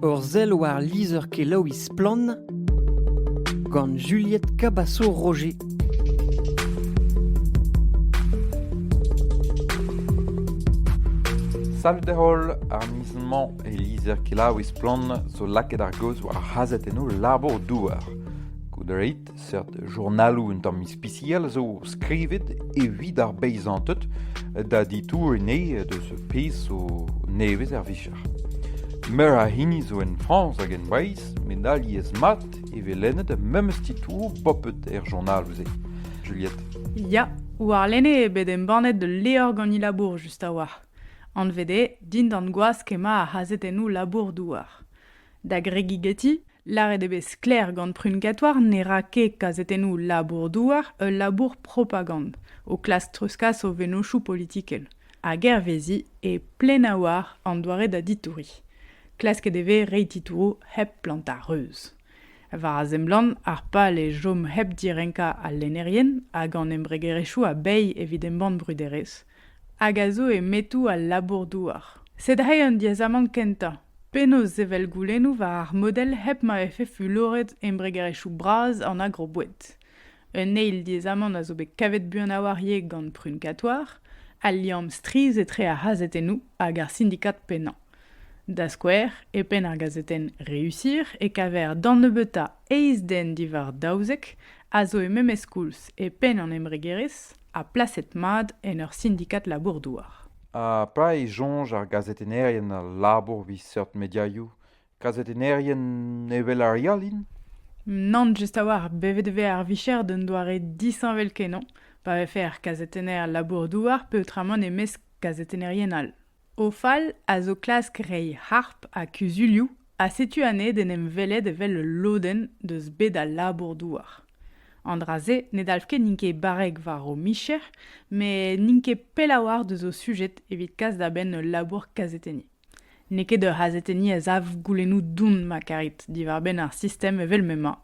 Ur sell war lizher-kelaouiñ Splann! gant Juliette Cabasso-Roger. Salut holl, ar miz-mañ e lizher-kelaouiñ Splann! zo lakaet ar gaoz war ar c'hazhetennoù labour-douar. Goude reit Seurt journaloù un tamm ispisial zo skrivet evit ar beizanted da ditouriñ deus ar pezh zo nevez er vicher. Meur a hini zo en Frañs hag en Breizh met alies-mat e vez lennet memes titouroù popet er journaloù-se. Juliette. Ya, warlene eo bet embannet ul levr gant he labour just a-walc'h. Anvet eo Dindan gwask emañ ar c'hazetennoù labour-douar. Da gregigeti, lâret eo bet sklaer gant Prunkatour ne ra ket kazetennoù labour-douar ul labour propagand, o klask treuzkas o vennozhioù politikel, hag hervezi e Plenawar an doare da ditouriñ. Klasket e vez reiñ titouroù hep plantañ reuz. War a seblant, ar pal eo chom hep direnkañ al lennerien hag an embregerezhioù a-bezh evit embann bruderezh, hag a zo e metoù al labour-douar. Sed reiñ an diaezamant kentañ. Penaos sevel goulennoù war ar model hep ma vefe fuloret embregerezhioù bras an agroboued. Un eil diaezamant a zo bet kavet buan a-walc'h ivez gant Prunkatoir, al liamm strizh etre ar c'hazetennoù hag ar sindikad pennañ. Da skouer, e penn ar gazetenn Réussir e kaver d'an nebeutañ eizh den diwar daouzek a zo e memes koulz e penn an embregerezh ha plaset mat en ur sindikad labour-douar. Ha petra e soñj ar gazetennerien a labour evit seurt mediaioù Gazetennerien evel ar re all int Nann, just a-walc'h. Bet e vez ar vicher d'un doare disheñvel-kenañ pa vefe ar gazetenner labour-douar peotramant e-mesk gazetennerien all. Ofal a zo klask reiñ harp ha kuzulioù ha setu anezhe d'en em welet evel ul lodenn deus bed al labour-douar. An dra-se ne dalv ket n'int ket barrek war o micher, met n'int ket pell a-walc'h deus o sujet evit kas da benn ul labour kazetenniñ. N'eo ket ur c'hazetenniñ a sav goulennoù don ma karit diwar-benn ar sistem evel m'emañ.